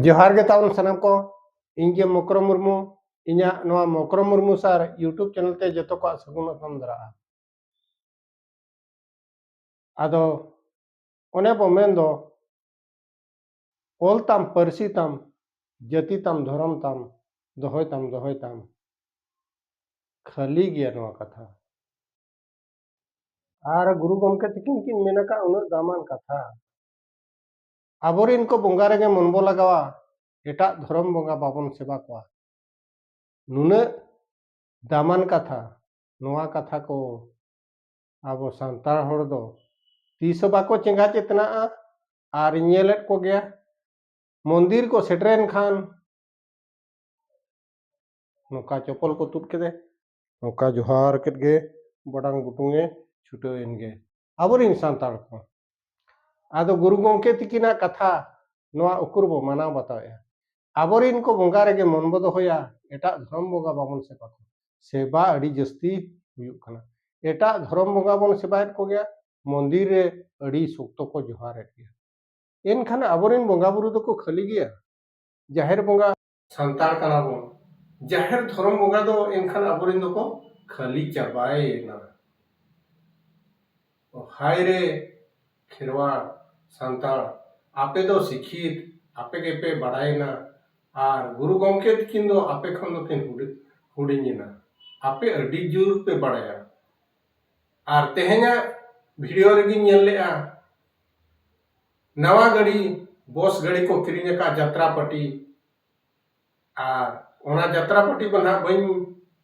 ᱡᱚᱦᱟᱨ ᱜᱮ ᱛᱟᱵᱚᱱ ᱥᱟᱱᱟᱢ ᱠᱚ ᱤᱧ ᱜᱮ ᱢᱚᱠᱨᱚ ᱢᱩᱨᱢᱩ ᱤᱧᱟᱹᱜ ᱱᱚᱣᱟ Mokro Murmu sir YouTube channel ᱛᱮ ᱡᱚᱛᱚ ᱠᱚᱣᱟᱜ ᱥᱟᱹᱜᱩᱱ ᱚᱛᱚᱢ ᱫᱟᱨᱟᱜᱼᱟ ᱟᱫᱚ ᱚᱱᱮ ᱵᱚ ᱢᱮᱱ ᱫᱚ ᱚᱞ ᱛᱟᱢ ᱯᱟᱹᱨᱥᱤ ᱛᱟᱢ ᱡᱟᱹᱛᱤ ᱛᱟᱢ ᱫᱷᱚᱨᱚᱢ ᱛᱟᱢ ᱫᱚᱦᱚᱭ ᱛᱟᱢ ᱫᱚᱦᱚᱭ ᱛᱟᱢ ᱠᱷᱟᱹᱞᱤ ᱜᱮᱭᱟ ᱱᱚᱣᱟ ᱠᱟᱛᱷᱟ ᱟᱨ ᱜᱩᱨᱩ ᱜᱚᱢᱠᱮ ᱛᱤᱠᱤᱱ ᱠᱤᱱ ᱢᱮᱱ ᱟᱠᱟᱫ ᱩᱱᱟᱹᱜ ᱫᱟᱢᱟᱱ ᱠᱟᱛᱷᱟ ᱟᱵᱚᱨᱮᱱ ᱠᱚ ᱵᱚᱸᱜᱟ ᱨᱮᱜᱮ ᱢᱚᱱ ᱵᱚ ᱞᱟᱜᱟᱣᱟ ᱮᱴᱟᱜ ᱫᱷᱚᱨᱚᱢ ᱵᱚᱸᱜᱟ ᱵᱟᱵᱚᱱ ᱥᱮᱵᱟ ᱠᱚᱣᱟ ᱱᱩᱱᱟᱹᱜ ᱫᱟᱢᱟᱱ ᱠᱟᱛᱷᱟ ᱱᱚᱣᱟ ᱠᱟᱛᱷᱟ ᱠᱚ ᱟᱵᱚ ᱥᱟᱱᱛᱟᱲ ᱦᱚᱲ ᱫᱚ ᱛᱤᱥ ᱦᱚᱸ ᱵᱟᱠᱚ ᱪᱮᱸᱜᱷᱟ ᱪᱮᱛᱱᱟᱜᱼᱟ ᱟᱨ ᱤᱧ ᱧᱮᱞᱮᱫ ᱠᱚᱜᱮᱭᱟ ᱢᱚᱱᱫᱤᱨ ᱠᱚ ᱥᱮᱴᱮᱨᱮᱱ ᱠᱷᱟᱱ ᱱᱚᱝᱠᱟ ᱪᱚᱯᱚᱞ ᱠᱚ ᱛᱩᱫ ᱠᱮᱫᱮ ᱱᱚᱝᱠᱟ ᱡᱚᱦᱟᱨ ᱠᱮᱫ ᱜᱮ ᱵᱟᱰᱟᱝ ᱵᱩᱴᱩᱝᱮ ᱪᱷᱩᱴᱟᱹᱣ ᱮᱱ ᱜᱮ ᱟᱵᱚᱨᱤᱱ ᱥᱟᱱᱛᱟᱲ ᱠᱚ ᱟᱫᱚ ᱜᱩᱨᱩ ᱜᱚᱢᱠᱮ ᱛᱤᱠᱤᱱᱟᱜ ᱠᱟᱛᱷᱟ ᱱᱚᱣᱟ ᱩᱠᱩᱨ ᱵᱚ ᱢᱟᱱᱟᱣ ᱵᱟᱛᱟᱣᱮᱜᱼᱟ ᱟᱵᱚᱨᱤᱱ ᱠᱚ ᱵᱚᱸᱜᱟ ᱨᱮᱜᱮ ᱢᱚᱱ ᱵᱚ ᱫᱚᱦᱚᱭᱟ ᱮᱴᱟᱜ ᱫᱷᱚᱨᱚᱢ ᱵᱚᱸᱜᱟ ᱵᱟᱵᱚᱱ ᱥᱮᱵᱟ ᱠᱚᱣᱟ ᱥᱮᱵᱟ ᱟᱹᱰᱤ ᱡᱟᱹᱥᱛᱤ ᱦᱩᱭᱩᱜ ᱠᱟᱱᱟ ᱮᱴᱟᱜ ᱫᱷᱚᱨᱚᱢ ᱵᱚᱸᱜᱟ ᱵᱚᱱ ᱥᱮᱵᱟᱭᱮᱫ ᱠᱚᱜᱮᱭᱟ ᱢᱚᱱᱫᱤᱨ ᱨᱮ ᱟᱹᱰᱤ ᱥᱚᱠᱛᱚ ᱠᱚ ᱡᱚᱦᱟᱨᱮᱫ ᱜᱮᱭᱟ ᱮᱱᱠᱷᱟᱱ ᱟᱵᱚᱨᱤᱱ ᱵᱚᱸᱜᱟ ᱵᱩᱨᱩ ᱫᱚᱠᱚ ᱠᱷᱟᱹᱞᱤ ᱜᱮᱭᱟ ᱡᱟᱦᱮᱨ ᱵᱚᱸᱜᱟ ᱥᱟᱱᱛᱟᱲ ᱠᱟᱱᱟ ᱵᱚᱱ ᱡᱟᱦᱮᱨ ᱫᱷᱚᱨᱚᱢ ᱵᱚᱸᱜᱟ ᱫᱚ ᱮᱱᱠᱷᱟᱱ ᱟᱵᱚᱨᱤᱱ ᱫᱚᱠᱚ ᱠᱷᱟᱹᱞᱤ ᱪᱟᱵᱟᱭᱮᱱᱟ ᱦᱟᱭ ᱨᱮ ᱠᱷᱮᱨᱣᱟᱲ ᱥᱟᱱᱛᱟᱲ ᱟᱯᱮ ᱫᱚ ᱥᱤᱠᱠᱷᱤᱛ ᱟᱯᱮ ᱜᱮᱯᱮ ᱵᱟᱲᱟᱭᱮᱱᱟ ᱟᱨ ᱜᱩᱨᱩ ᱜᱚᱢᱠᱮ ᱛᱤᱠᱤᱱ ᱫᱚ ᱟᱯᱮ ᱠᱷᱚᱱ ᱫᱚᱠᱤᱱ ᱦᱩᱰᱤᱧᱮᱱᱟ ᱟᱯᱮ ᱟᱹᱰᱤ ᱡᱳᱨ ᱯᱮ ᱵᱟᱲᱟᱭᱟ ᱟᱨ ᱛᱮᱦᱮᱧᱟᱜ ᱵᱷᱤᱰᱤᱭᱳ ᱨᱮᱜᱤᱧ ᱧᱮᱞ ᱞᱮᱫᱼᱟ ᱱᱟᱣᱟ ᱜᱟᱹᱰᱤ ᱵᱚᱥ ᱜᱟᱹᱰᱤ ᱠᱚ ᱠᱤᱨᱤᱧ ᱟᱠᱟᱫ ᱡᱟᱛᱨᱟ ᱯᱟᱴᱤ ᱟᱨ ᱚᱱᱟ ᱡᱟᱛᱨᱟ ᱯᱟᱹᱴᱤ ᱫᱚ ᱱᱟᱦᱟᱜ ᱵᱟᱹᱧ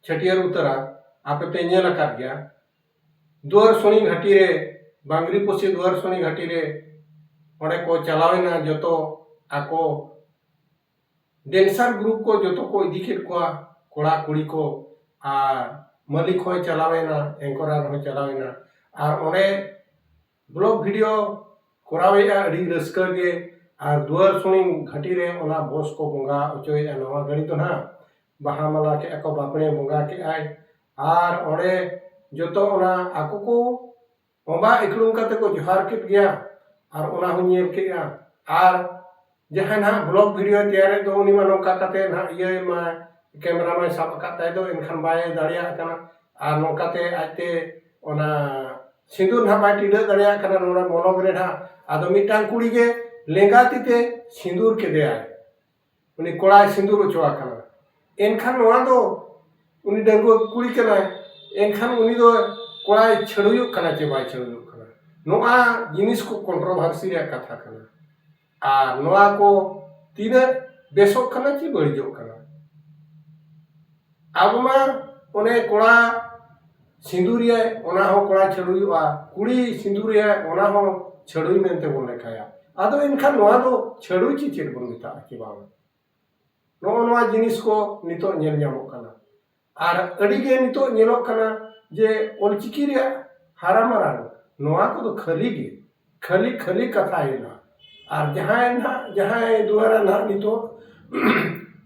ᱪᱷᱟᱹᱴᱭᱟᱹᱨ ᱩᱛᱟᱹᱨᱟ ᱟᱯᱮ ᱯᱮ ᱧᱮᱞ ᱟᱠᱟᱫ ᱜᱮᱭᱟ ᱫᱩᱣᱟᱹᱨ ᱥᱩᱱᱤ ᱜᱷᱟᱹᱴᱤ ᱨᱮ ᱵᱟᱝᱨᱤ ᱯᱚᱥᱤ ᱫᱩᱣᱟᱹᱨ ᱥᱩᱱᱤ ᱜᱷᱟᱹᱴᱤ ᱨᱮ ᱚᱸᱰᱮ ᱠᱚ ᱪᱟᱞᱟᱣᱮᱱᱟ ᱡᱚᱛᱚ ᱟᱠᱚ ᱰᱮᱱᱥᱟᱨ ᱜᱨᱩᱯ ᱠᱚ ᱡᱚᱛᱚ ᱠᱚ ᱤᱫᱤ ᱠᱮᱫ ᱠᱚᱣᱟ ᱠᱚᱲᱟ ᱠᱩᱲᱤ ᱠᱚ ᱟᱨ ᱢᱟᱹᱞᱤᱠ ᱦᱚᱸᱭ ᱪᱟᱞᱟᱣᱮᱱᱟ ᱮᱝᱠᱚᱨᱟᱨ ᱦᱚᱸᱭ ᱪᱟᱞᱟᱣᱮᱱᱟ ᱟᱨ ᱚᱸᱰᱮ ᱵᱞᱚᱜ ᱵᱷᱤᱰᱤᱭᱳ ᱠᱚᱨᱟᱣᱮᱫᱼᱟ ᱟᱹᱰᱤ ᱨᱟᱹᱥᱠᱟᱹ ᱜᱮ ᱟᱨ ᱫᱩᱣᱟᱹᱨ ᱥᱩᱱᱤ ᱜᱷᱟᱹᱴᱤ ᱨᱮ ᱚᱱᱟ ᱵᱚᱥ ᱠᱚ ᱵᱚᱸᱜᱟ ᱚᱪᱚᱭᱮᱫᱼᱟ ᱱᱟᱣᱟ ᱜᱟᱹᱲᱤ ᱫᱚ ᱱᱟᱦᱟᱜ ᱵᱟᱦᱟ ᱢᱟᱞᱟ ᱠᱮᱫᱼᱟ ᱠᱚ ᱵᱟᱯᱲᱮ ᱵᱚᱸᱜᱟ ᱠᱮᱫᱼᱟᱭ ᱟᱨ ᱚᱸᱰᱮ ᱡᱚᱛᱚ ᱚᱱᱟ ᱟᱠᱚ ᱠᱚ ᱵᱚᱸᱜᱟ ᱤᱠᱷᱲᱩᱢ ᱠᱟᱛᱮᱫ ᱠᱚ ᱡᱚᱦᱟᱨ ᱠᱮᱫ ᱜᱮᱭᱟ ᱟᱨ ᱚᱱᱟ ᱦᱚᱸᱧ ᱧᱮᱞ ᱠᱮᱫᱼᱟ ᱟᱨ ᱡᱟᱦᱟᱸᱭ ᱱᱟᱦᱟᱜ ᱵᱞᱚᱜᱽ ᱵᱷᱤᱰᱤᱭᱳᱭ ᱛᱮᱭᱟᱨᱮᱫ ᱫᱚ ᱩᱱᱤ ᱢᱟ ᱱᱚᱝᱠᱟ ᱠᱟᱛᱮ ᱱᱟᱦᱟᱜ ᱤᱭᱟᱹᱭ ᱢᱟ ᱠᱮᱢᱮᱨᱟ ᱢᱟᱭ ᱥᱟᱵ ᱟᱠᱟᱫ ᱛᱟᱭ ᱫᱚ ᱮᱱᱠᱷᱟᱱ ᱵᱟᱭ ᱫᱟᱲᱮᱭᱟᱜ ᱠᱟᱱᱟ ᱟᱨ ᱱᱚᱝᱠᱟᱛᱮ ᱟᱡᱛᱮ ᱚᱱᱟ ᱥᱤᱸᱫᱩᱨ ᱱᱟᱦᱟᱜ ᱵᱟᱭ ᱴᱤᱰᱟᱹᱜ ᱫᱟᱲᱮᱭᱟᱜ ᱠᱟᱱᱟ ᱱᱚᱰᱮ ᱢᱚᱞᱚᱝ ᱨᱮ ᱱᱟᱦᱟᱜ ᱟᱫᱚ ᱢᱤᱫᱴᱟᱝ ᱠᱩᱲᱤ ᱜᱮ ᱞᱮᱸᱜᱟ ᱛᱤᱛᱮ ᱥᱤᱸᱫᱩᱨ ᱠᱮᱫᱮᱭᱟᱭ ᱩᱱᱤ ᱠᱚᱲᱟᱭ ᱥᱤᱸᱫᱩᱨ ᱚᱪᱚ ᱟᱠᱟᱱᱟ ᱮᱱᱠᱷᱟᱱ ᱱᱚᱣᱟ ᱫᱚ ᱩᱱᱤ ᱰᱟᱺᱜᱩᱣᱟᱹ ᱠᱩᱲᱤ ᱠᱟᱱᱟᱭ ᱮᱱᱠᱷᱟᱱ ᱩᱱᱤ ᱫᱚ ᱠᱚᱲᱟᱭ ᱪᱷᱟᱹᱰᱣᱤᱜ ᱠᱟᱱᱟ ᱪᱮ ᱵᱟᱭ ᱪᱷᱟᱹᱰᱣᱤᱜ ᱠᱟᱱᱟ ᱱᱚᱣᱟ ᱡᱤᱱᱤᱥ ᱠᱚ ᱠᱚᱱᱴᱨᱚᱵᱷᱟᱨᱥᱤ ᱨᱮᱭᱟᱜ ᱠᱟᱛᱷᱟ ᱠᱟᱱᱟ ᱟᱨ ᱱᱚᱣᱟ ᱠᱚ ᱛᱤᱱᱟᱹᱜ ᱵᱮᱥᱚᱜ ᱠᱟᱱᱟ ᱪᱮ ᱵᱟᱹᱲᱤᱡᱚᱜ ᱠᱟᱱᱟ ᱟᱵᱚ ᱢᱟ ᱚᱱᱮ ᱠᱚᱲᱟ ᱥᱤᱸᱫᱩᱨᱮᱭᱟᱭ ᱚᱱᱟ ᱦᱚᱸ ᱠᱚᱲᱟ ᱪᱷᱟᱹᱰᱣᱤᱚᱜᱼᱟ ᱠᱩᱲᱤ ᱥᱤᱸᱫᱩᱨᱮᱭᱟᱭ ᱚᱱᱟ ᱦᱚᱸ ᱪᱷᱟᱹᱰᱣᱤ ᱢᱮᱱᱛᱮ ᱵᱚᱱ ᱞᱮᱠᱷᱟᱭᱟ ᱟᱫᱚ ᱮᱱᱠᱷᱟᱱ ᱱᱚᱣᱟ ᱫᱚ ᱪᱷᱟᱹᱰᱣᱤ ᱪᱮ ᱪᱮᱫ ᱵᱚᱱ ᱢᱮᱛᱟᱜᱼᱟ ᱪᱮ ᱵᱟᱝ ᱱᱚᱜᱼᱚ ᱱᱚᱣᱟ ᱡᱤᱱᱤᱥ ᱠᱚ ᱱᱤᱛᱳᱜ ᱧᱮᱞ ᱧᱟᱢᱚᱜ ᱠᱟᱱᱟ ᱟᱨ ᱟᱹᱰᱤ ᱜᱮ ᱱᱤᱛᱚᱜ ᱧᱮᱞᱚᱜ ᱠᱟᱱᱟ ᱡᱮ ᱚᱞ ᱪᱤᱠᱤ ᱨᱮᱭᱟᱜ ᱦᱟᱨᱟ ᱢᱟᱨᱟᱝ ᱱᱚᱣᱟ ᱠᱚᱫᱚ ᱠᱷᱟᱹᱞᱤ ᱜᱮ ᱠᱷᱟᱹᱞᱤ ᱠᱷᱟᱹᱞᱤ ᱠᱟᱛᱷᱟ ᱦᱩᱭᱩᱜᱼᱟ ᱟᱨ ᱡᱟᱦᱟᱸᱭ ᱱᱟᱜ ᱡᱟᱦᱟᱸᱭ ᱫᱩᱣᱟᱨᱟ ᱱᱟᱜ ᱱᱤᱛᱚᱜ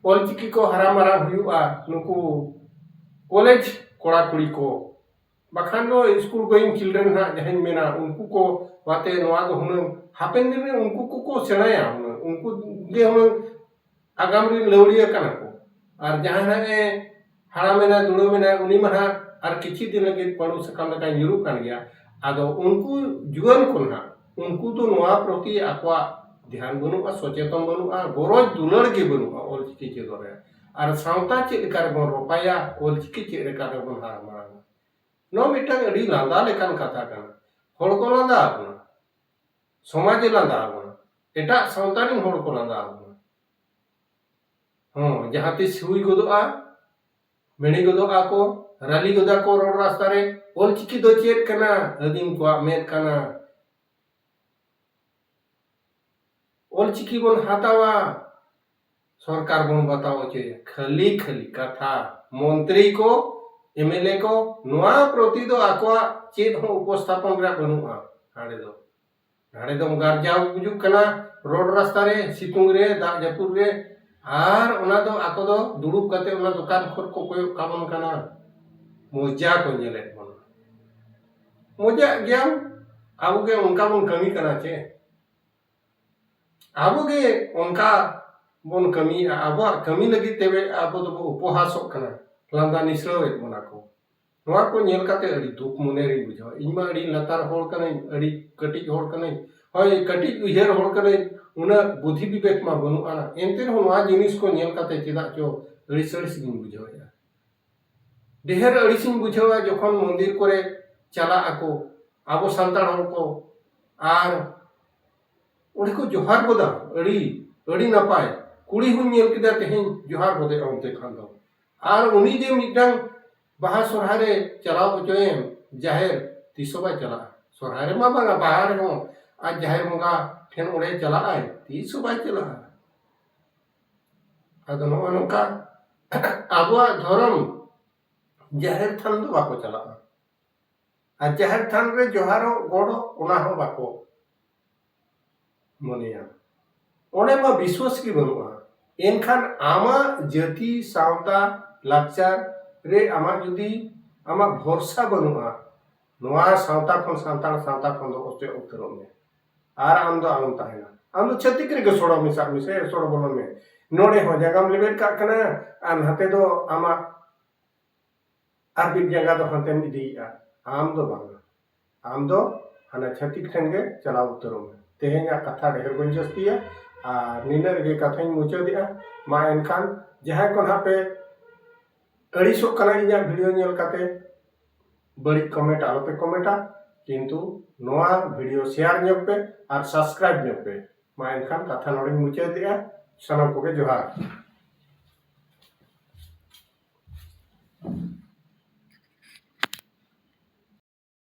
ᱚᱞ ᱪᱤᱠᱤ ᱠᱚ ᱦᱟᱨᱟ ᱢᱟᱨᱟᱝ ᱦᱩᱭᱩᱜᱼᱟ ᱱᱩᱠᱩ ᱠᱚᱞᱮᱡᱽ ᱠᱚᱲᱟᱼᱠᱩᱲᱤ ᱠᱚ ᱵᱟᱠᱷᱟᱱ ᱫᱚ ᱥᱠᱩᱞ ᱜᱳᱭᱤᱝ ᱪᱤᱞᱰᱨᱮᱱ ᱦᱟᱸᱜ ᱡᱟᱦᱟᱸᱧ ᱢᱮᱱᱟ ᱩᱱᱠᱩ ᱠᱚ ᱟᱛᱮ ᱱᱚᱣᱟ ᱫᱚ ᱦᱩᱱᱟᱹᱝ ᱦᱟᱯᱮᱱ ᱫᱤᱱ ᱨᱮ ᱩᱱᱠᱩ ᱠᱚᱠᱚ ᱥᱮᱬᱟᱭᱟ ᱦᱩᱱᱟᱹᱝ ᱩᱱᱠᱩ ᱜᱮ ᱦᱩᱱᱟᱹᱝ ᱟᱜᱟᱢ ᱨᱮᱱ ᱞᱟᱹᱣᱲᱤᱭᱟᱹ ᱠᱟᱱᱟ ᱠᱚ ᱟᱨ ᱡᱟᱦᱟᱸᱭ ᱦᱟᱸᱜ ᱮ ᱦᱟᱲᱟᱢ ᱮᱱᱟᱭ ᱫᱩᱲᱩᱢ ᱮᱱᱟᱭ ᱩᱱᱤ ᱢᱟ ᱦᱟᱸᱜ ᱟᱨ ᱠᱤᱪᱷᱩ ᱫᱤᱱ ᱞᱟᱹᱜᱤᱫ ᱯᱟᱺᱰᱩ ᱥᱟᱠᱟᱢ ᱞᱮᱠᱟᱭ ᱧᱩᱨᱩᱜ ᱠᱟᱱ ᱜᱮᱭᱟ ᱟᱫᱚ ᱩᱱᱠᱩ ᱡᱩᱣᱟᱹᱱ ᱠᱚ ᱦᱟᱸᱜ ᱩᱱᱠᱩ ᱫᱚ ᱱᱚᱣᱟ ᱯᱨᱚᱛᱤ ᱟᱠᱚᱣᱟᱜ ᱫᱷᱮᱭᱟᱱ ᱵᱟᱹᱱᱩᱜᱼᱟ ᱥᱚᱪᱮᱛᱚᱱ ᱵᱟᱹᱱᱩᱜᱼᱟ ᱜᱚᱨᱚᱡᱽ ᱫᱩᱞᱟᱹᱲ ᱜᱮ ᱵᱟᱹᱱᱩᱜᱼᱟ ᱚᱞ ᱪᱤᱠᱤ ᱪᱮᱫᱚᱜ ᱨᱮ ᱟᱨ ᱥᱟᱶᱛᱟ ᱪᱮᱫ ᱞᱮᱠᱟ ᱨᱮᱵᱚᱱ ᱨᱚᱯᱷᱟᱭᱟ ᱚᱞ ᱪᱤᱠᱤ ᱪᱮᱫ ᱞᱮᱠᱟ ᱨᱮᱵᱚᱱ ᱦᱟᱨᱟ ᱢᱟᱲᱟᱝᱟ ᱱᱚᱣᱟ ᱢᱤᱫᱴᱟᱝ ᱟᱹᱰᱤ ᱞᱟᱸᱫᱟ ᱞᱮᱠᱟᱱ ᱠᱟᱛᱷᱟ ᱠᱟᱱᱟ ᱦᱚᱲ ᱠᱚ ᱞᱟᱸᱫᱟ ᱟᱵᱚᱱᱟ ᱥᱚᱢᱟᱡᱽ ᱮ ᱞᱟᱸᱫᱟ ᱟᱵᱚᱱᱟ ᱮᱴᱟᱜ ᱥᱟᱶᱛᱟ ᱨᱮᱱ ᱦᱚᱲ ᱠᱚ ᱞᱟᱸᱫᱟ ᱟᱵᱚᱱᱟ ᱦᱚᱸ ᱡᱟᱦᱟᱸ ᱛᱤᱥ ᱦᱩᱭ ᱜᱚᱫᱚᱜᱼᱟ ᱢᱮᱬᱮ ᱜᱚᱫᱚᱜᱼᱟ ᱠᱚ ᱨᱟᱹᱞᱤ ᱜᱚᱫᱟ ᱠᱚ ᱨᱳᱰ ᱨᱟᱥᱛᱟ ᱨᱮ ᱚᱞ ᱪᱤᱠᱤ ᱫᱚ ᱪᱮᱫ ᱠᱟᱱᱟ ᱟᱹᱫᱤᱢ ᱠᱚᱣᱟᱜ ᱢᱮᱫ ᱠᱟᱱᱟ ᱚᱞ ᱪᱤᱠᱤ ᱵᱚᱱ ᱦᱟᱛᱟᱣᱟ ᱥᱚᱨᱠᱟᱨ ᱵᱚᱱ ᱵᱟᱛᱟᱣ ᱚᱪᱚᱭᱟ ᱠᱷᱟᱹᱞᱤ ᱠᱷᱟᱹᱞᱤ ᱠᱟᱛᱷᱟ ᱢᱚᱱᱛᱨᱤ ᱠᱚ ᱮᱢᱮᱞᱮ ᱠᱚ ᱱᱚᱣᱟ ᱯᱨᱚᱛᱤ ᱫᱚ ᱟᱠᱚᱣᱟᱜ ᱪᱮᱫ ᱦᱚᱸ ᱩᱯᱚᱥᱛᱷᱟᱯᱚᱱ ᱨᱮᱭᱟᱜ ᱵᱟᱹᱱᱩᱜᱼᱟ ᱦᱟᱸᱰᱮ ᱫᱚ ᱦᱟᱸᱰᱮ ᱫᱚᱢ ᱜᱟᱨᱡᱟᱣ ᱜᱩᱡᱩᱜ ᱠᱟᱱᱟ ᱨᱳᱰ ᱨᱟᱥᱛᱟ ᱨᱮ ᱥᱤᱛᱩᱝ ᱨᱮ ᱫᱟᱜ ᱡᱟᱹᱯᱩᱫ ᱨᱮ ᱟᱨ ᱚᱱᱟ ᱫᱚ ᱟᱠᱚ ᱫᱚ ᱫᱩᱲᱩᱵ ᱠᱟᱛᱮ ᱚᱱᱟ ᱫᱚᱠᱟᱱ ᱠᱷᱚᱱ ᱠᱚ ᱠᱚᱭᱚᱜ ᱠᱟᱵᱚᱱ ᱠᱟᱱᱟ ᱢᱚᱡᱟ ᱠᱚ ᱧᱮᱞᱮᱫ ᱵᱚᱱᱟ ᱢᱚᱡᱟᱜ ᱜᱮᱭᱟᱢ ᱟᱵᱚ ᱜᱮ ᱚᱱᱠᱟ ᱵᱚᱱ ᱠᱟᱹᱢᱤ ᱠᱟᱱᱟ ᱪᱮ ᱟᱵᱚᱜᱮ ᱚᱱᱠᱟ ᱵᱚᱱ ᱠᱟᱹᱢᱤᱭᱮᱫᱼᱟ ᱟᱵᱚᱣᱟᱜ ᱠᱟᱹᱢᱤ ᱞᱟᱹᱜᱤᱫ ᱛᱮ ᱟᱵᱚ ᱫᱚᱵᱚ ᱩᱯᱚᱦᱟᱥᱚᱜ ᱠᱟᱱᱟ ᱞᱟᱸᱫᱟ ᱱᱤᱥᱲᱟᱹᱣᱮᱫ ᱵᱚᱱᱟ ᱠᱚ ᱱᱚᱣᱟ ᱠᱚ ᱧᱮᱞ ᱠᱟᱛᱮ ᱟᱹᱰᱤ ᱫᱩᱠ ᱢᱚᱱᱮ ᱨᱤᱧ ᱵᱩᱡᱷᱟᱹᱣᱟ ᱤᱧ ᱢᱟ ᱟᱹᱰᱤ ᱞᱟᱛᱟᱨ ᱦᱚᱲ ᱠᱟᱹᱱᱟᱹᱧ ᱟᱹᱰᱤ ᱠᱟᱹᱴᱤᱡ ᱦᱚᱲ ᱠᱟᱹᱱᱟᱹᱧ ᱦᱳᱭ ᱠᱟᱹᱴᱤᱡ ᱩᱭᱦᱟᱹᱨ ᱦᱚᱲ ᱠᱟᱹᱱᱟᱹᱧ ᱩᱱᱟᱹᱜ ᱵᱩᱫᱷᱤ ᱵᱤᱵᱮᱠ ᱢᱟ ᱵᱟᱹᱱᱩᱜᱼᱟ ᱮᱱᱛᱮ ᱨᱮᱦᱚᱸ ᱱᱚᱣᱟ ᱡᱤᱱᱤᱥ ᱠᱚ ᱧᱮᱞ ᱠᱟᱛᱮ ᱪᱮᱫᱟᱜ ᱪᱚ ᱟᱹᱲᱤᱥ ᱟᱹᱲᱤᱥ ᱜᱤᱧ ᱵᱩᱡᱷᱟᱹᱣᱮᱫᱼᱟ ᱰᱮᱦᱮᱨ ᱟᱹᱲᱤᱥᱤᱧ ᱵᱩᱡᱷᱟᱹᱣᱟ ᱡᱚᱠᱷᱚᱱ ᱢᱚᱱᱫᱤᱨ ᱠᱚᱨᱮ ᱪᱟᱞᱟᱜ ᱟᱠᱚ ᱟᱵᱚ ᱥᱟᱱᱛᱟᱲ ᱦᱚᱲ ᱠᱚ ᱟᱨ ᱚᱸᱰᱮ ᱠᱚ ᱡᱚᱦᱟᱨ ᱜᱚᱫᱟ ᱟᱹᱰᱤ ᱟᱹᱰᱤ ᱱᱟᱯᱟᱭ ᱠᱩᱲᱤ ᱦᱚᱸᱧ ᱧᱮᱞ ᱠᱮᱫᱮᱭᱟ ᱛᱮᱦᱮᱧ ᱡᱚᱦᱟᱨ ᱜᱚᱫᱮᱭᱟ ᱚᱱᱛᱮ ᱠᱷᱟᱱ ᱫᱚ ᱟᱨ ᱩᱱᱤ ᱡᱮ ᱢᱤᱫᱴᱟᱝ ᱵᱟᱦᱟ ᱥᱚᱨᱦᱟᱭ ᱨᱮ ᱪᱟᱞᱟᱣ ᱦᱚᱪᱚᱭᱮᱢ ᱡᱟᱦᱮᱨ ᱛᱤᱥ ᱦᱚᱸ ᱵᱟᱭ ᱪᱟᱞᱟᱜᱼᱟ ᱥᱚᱨᱦᱟᱭ ᱨᱮᱢᱟ ᱵᱟᱝᱟ ᱵᱟᱦᱟ ᱨᱮᱦᱚᱸ ᱟᱡ ᱡᱟᱦᱮᱨ ᱵᱚᱸᱜᱟ ᱴᱷᱮᱱ ᱚᱸᱰᱮ ᱪᱟᱞᱟᱜᱼᱟᱭ ᱛᱤᱥ ᱦᱚᱸ ᱵᱟᱭ ᱪᱟᱞᱟᱜᱼᱟ ᱟᱫᱚ ᱱᱚᱜᱼᱚ ᱱᱚᱝᱠᱟ ᱟᱵᱚᱣᱟᱜ ᱫᱷᱚᱨᱚᱢ ᱡᱟᱦᱮᱨ ᱛᱷᱟᱱ ᱫᱚ ᱵᱟᱠᱚ ᱪᱟᱞᱟᱜᱼᱟ ᱟᱨ ᱡᱟᱦᱮᱨ ᱛᱷᱟᱱ ᱨᱮ ᱡᱚᱦᱟᱨᱚᱜ ᱜᱚᱰᱚᱜ ᱚᱱᱟ ᱦᱚᱸ ᱵᱟᱠᱚ ᱢᱚᱱᱮᱭᱟ ᱚᱸᱰᱮ ᱢᱟ ᱵᱤᱥᱥᱟᱹᱥ ᱜᱮ ᱵᱟᱹᱱᱩᱜᱼᱟ ᱮᱱᱠᱷᱟᱱ ᱟᱢᱟᱜ ᱡᱟᱹᱛᱤ ᱥᱟᱶᱛᱟ ᱞᱟᱠᱪᱟᱨ ᱨᱮ ᱟᱢᱟᱜ ᱡᱩᱫᱤ ᱟᱢᱟᱜ ᱵᱷᱚᱨᱥᱟ ᱵᱟᱹᱱᱩᱜᱼᱟ ᱱᱚᱣᱟ ᱥᱟᱶᱛᱟ ᱠᱷᱚᱱ ᱥᱟᱱᱛᱟᱲ ᱥᱟᱶᱛᱟ ᱠᱷᱚᱱ ᱫᱚ ᱚᱪᱚᱜ ᱩᱛᱟᱹᱨᱚᱜ ᱢᱮ ᱟᱨ ᱟᱢ ᱫᱚ ᱟᱞᱚᱢ ᱛᱟᱦᱮᱱᱟ ᱟᱢ ᱫᱚ ᱪᱷᱟᱹᱛᱤᱠ ᱨᱮᱜᱮ ᱥᱚᱲᱚ ᱢᱮᱥᱟᱜ ᱢᱮᱥᱮ ᱥᱚᱲᱚ ᱵᱚᱞᱚᱱ ᱢᱮ ᱱᱚᱰᱮ ᱦᱚᱸ ᱡᱟᱸᱜᱟᱢ ᱞᱮᱵᱮᱫ ᱠᱟᱜ ᱠᱟᱱᱟ ᱟᱨ ᱱᱟᱛᱮ ᱫᱚ ᱟᱢᱟᱜ ᱟᱨᱵᱤᱫ ᱡᱟᱸᱜᱟ ᱫᱚ ᱦᱟᱱᱛᱮᱢ ᱤᱫᱤᱭᱮᱜᱼᱟ ᱟᱢ ᱫᱚ ᱵᱟᱝ ᱟᱢ ᱫᱚ ᱦᱟᱱᱟ ᱪᱷᱟᱹᱛᱤᱠ ᱴᱷᱮᱱ ᱜᱮ ᱪᱟᱞᱟᱣ ᱩᱛᱟᱹᱨᱚᱜ ᱢᱮ ᱛᱮᱦᱮᱧᱟᱜ ᱠᱟᱛᱷᱟ ᱰᱷᱮᱨ ᱵᱟᱹᱧ ᱡᱟᱹᱥᱛᱤᱭᱟ ᱟᱨ ᱱᱤᱱᱟᱹᱜ ᱨᱮᱜᱮ ᱠᱟᱛᱷᱟᱧ ᱢᱩᱪᱟᱹᱫᱮᱜᱼᱟ ᱢᱟ ᱮᱱᱠᱷᱟᱱ ᱡᱟᱦᱟᱸᱭ ᱠᱚ ᱱᱟᱦᱟᱜ ᱯᱮ ᱟᱹᱲᱤᱥᱚᱜ ᱠᱟᱱᱟ ᱤᱧᱟᱹᱜ ᱵᱷᱤᱰᱤᱭᱳ ᱧᱮᱞ ᱠᱟᱛᱮ ᱵᱟᱹᱲᱤᱡ ᱠᱚᱢᱮᱱᱴ ᱟᱞᱚᱯᱮ ᱠᱚᱢᱮᱱᱴᱟ ᱠᱤᱱᱛᱩ ᱱᱚᱣᱟ ᱵᱷᱤᱰᱤᱭᱳ ᱥᱮᱭᱟᱨ ᱧᱚᱜ ᱯᱮ ᱟᱨ ᱥᱟᱵᱥᱠᱨᱟᱭᱤᱵ ᱧᱚᱜ ᱯᱮ ᱢᱟ ᱮᱱᱠᱷᱟᱱ ᱠᱟᱛᱷᱟ ᱱᱚᱰᱮᱧ ᱢᱩᱪᱟᱹᱫᱮᱜᱼᱟ ᱥᱟᱱᱟᱢ ᱠᱚᱜᱮ ᱡᱚᱦᱟᱨ